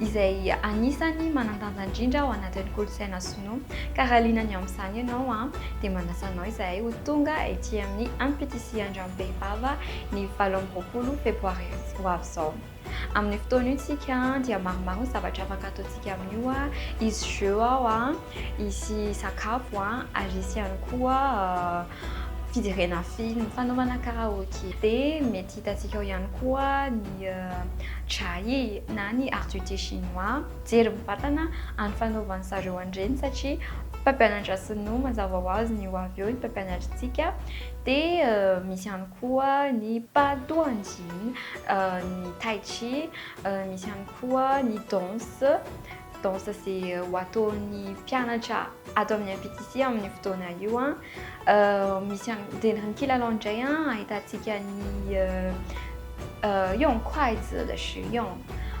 izay anisany manan-danja indrindra ao anatin'ny kolontsaina sinoa. Ka raha liana ny amin'izany ianao dia manasa anao izahay ho tonga ety amin'ny ampitisihan-dRambe Vava ny valo amby roapolo febroary ho avy izao. Amin'io fotoana io isika dia maromaro ny zavatra afaka ataontsika amin'io, hisy jeux ao, hisy sakafo ary hisy ihany koa. fijerena film, fanaovana karaoke. Dia mety hitantsika ao ihany koa ny Jai na ny Arts du Thé Chinois. Jery mivantana amin'ny fanaovan'ny zareo an'ireny satria mpampianatra sinoa mazava ho azy ny ho avy eo ny mpampianatritsika. Dia misy ihany koa ny Pa Duan Jin, ny Tai Chi, misy ihany koa ny danse. danse izay ho ataon'ny mpianatra ato amin'ny MPTC amin'ny fotoana io an euh, misy dia ny kilalao indray an ahitantsika ny yon quite the shion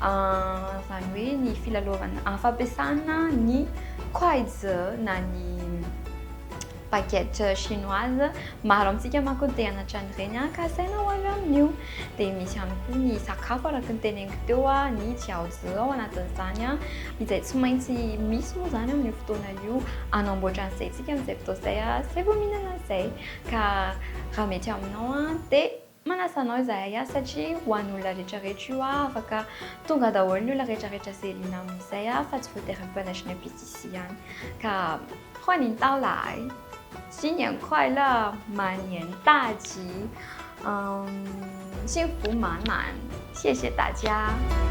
izany hoe ny filalaovana fampiasana ny quite na ny baguette chinoise, maro amintsika manko no te hanatra an'ireny ka asaina ho avy amin'io. Dia misy ihany koa ny sakafo araka ny teneniko teo, ny jiaozi ao anatin'izany, izay tsy maintsy misy moa izany amin'io fotoana io, hanamboatra an'izay isika amin'izay fotoana izay, izay vao mihinana an'izay. Ka raha mety aminao dia. Manasa anao izahay aho satria ho an'olona rehetra rehetra io aho afaka tonga daholo ny olona rehetra rehetra ze liana amin'izay aho fa tsy voatery ny mpanatrika ny PCC ihany ka hoa ny ntaho lahay sy ny ankoaila mania ny tady sy ny voa manana sy ese tady aho.